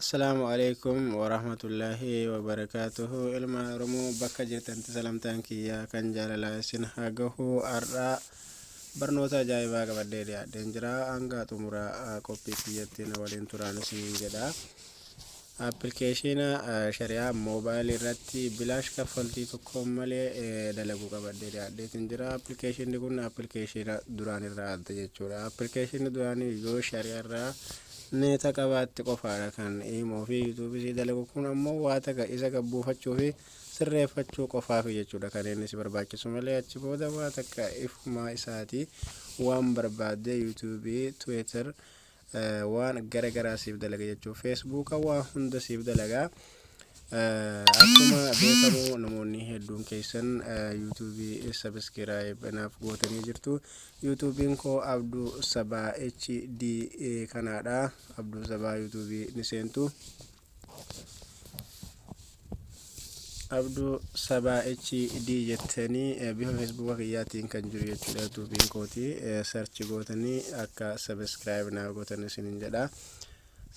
Assalaamu alaikum warahmatullaahi wabarakaatuhu ilma Oromoo bakka jirtanti salamtaan kiyya kan jaalalaa isin haa gahu har'aa barnoota ajaa'ibaa qabadhee dhiyaadheen jira hanga xumura ah, qophii kiyyatti na waliin turaan isiniin jedha appilikeeshina ah, shari'aa moobaayilii irratti bilaash kaffaltii tokko malee eh, dalaguu qabadhee dhiyaadheetiin jira appilikeeshinni kun appilikeeshina duraan irraa adda jechuudha appilikeeshinni duraanii yoo shari'aa irraa Meta qabaatti qofaadha kan imo fi youtube sii dalagu kun ammoo waa taka isa gad buufachuu fi sirreeffachuu qofaafi jechuudha kan inni si barbaachisu malee achi booda waa takka ifumaa isaati waan barbaadde youtube twitter waan gara garaa siif dalaga jechuudha facebook waa hunda siif dalaga Akkuma beekamu namoonni hedduun keessan yuutuubii sabiskiraayib naaf gootanii jirtu. Yuutuubiin koo Abduu Sabaa HD kanaadha. Abduu Sabaa yuutuubii ni seentu. Abduu Sabaa HD jettanii eh, bifa feesbuuka kiyyaatiin kan jiru jechuudha yuutuubiin kooti. Sarchi gootanii akka sabiskiraayib naaf gootan isiniin jedha.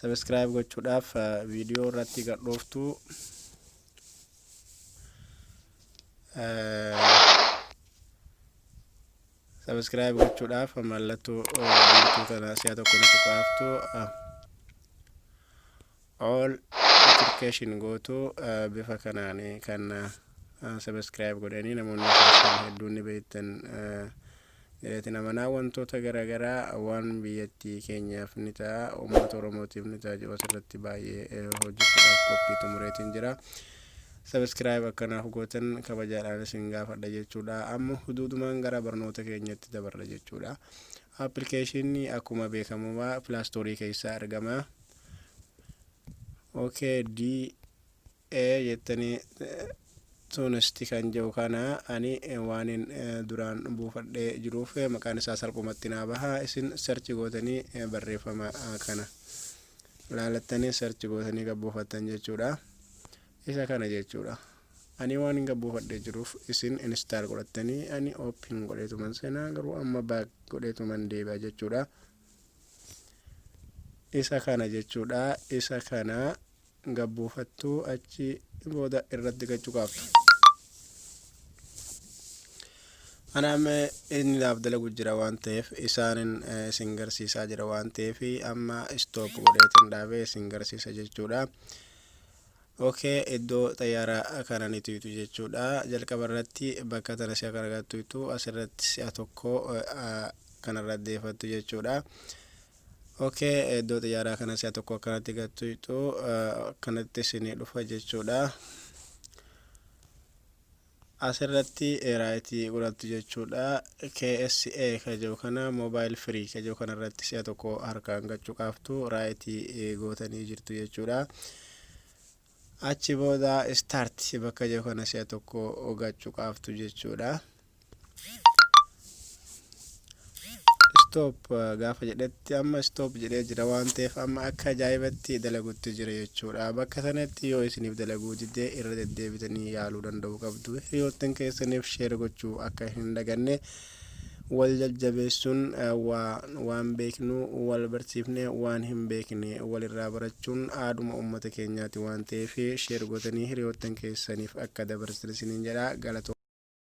Subscribe gochuudhaaf viidiyoo irratti gad dhooftu. Subscribe gochuudhaaf mallattoo biiftuu tana si'a tokko nuti qaaftu. All notification gootu bifa kanaan kan subscribe godhanii namoonni hedduun ni beektan. Ireetiin amanaa wantoota garaagaraa waan biyyattii keenyaaf ni ta'a, uummata Oromootiif ni ta'a jiru asirratti baay'ee hojjechuudhaaf qophii xumureetiin jira. Sabiskiraayib akkanaaf gootan kabajaadhaan isin gaafadha jechuudha. Amma huduudumaan gara barnoota keenyatti dabarra jechuudha. Appilikeeshinni akkuma beekamumaa pilaastoorii keessaa argama. Okay, D ee jettani tunesti kan jedhu kana ani waanin duraan buufadhee jiruuf maqaan isaa salphumatti naa baha isin search gootanii barreeffama kana laalattanii search gootanii gabbuufattan jechuudha isa kana jechuudha ani waanin gabbuufadhee jiruuf isin install godhattanii ani open godheetuman seenaa garuu amma back godheetuman deebi'a jechuudha isa kana jechuudha isa kana gabbuufattuu achi booda irratti gachuqaaftu anaam inni laaf dalagu jira waan ta'eef isaanin isin garsiisaa jira waan ta'eef amma istoop godheetin dhaabee isin garsiisa jechuudha Ok iddo xayyaara kanan itu itu jechudha jalqaba irratti bakka tana si'a kan agattu itu asirratti si'a tokko kanarra deefattu jechudha ok iddo xayyaara kana si'a tokko akkanatti gattu itu akkanatti isin dhufa jechudha. As irratti right godhattu jechuudha. KSA ka jedhu kana mobile free ka jedhu kana irratti si'a tokko harkaan gad cuqaaftu right gootanii jirtu jechuudha. Achi booda start bakka jedhu kana si'a tokko gad cuqaaftu jechuudha. stop gaafa jedhetti amma stop jedhee jira waan ta'eef amma akka ajaa'ibatti dalagutti jira jechuudha bakka sanatti yoo isiniif dalaguu didee irra deddeebitanii yaaluu danda'u qabdu hiriyoottan keessaniif sheer gochuu akka hin daganne wal jajjabeessuun waan beeknu wal barsiifne waan hin beekne walirraa barachuun aaduma uummata keenyaati waan ta'eef sheer gootanii hiriyoottan keessaniif akka dabarsan isiniin jedha galatoo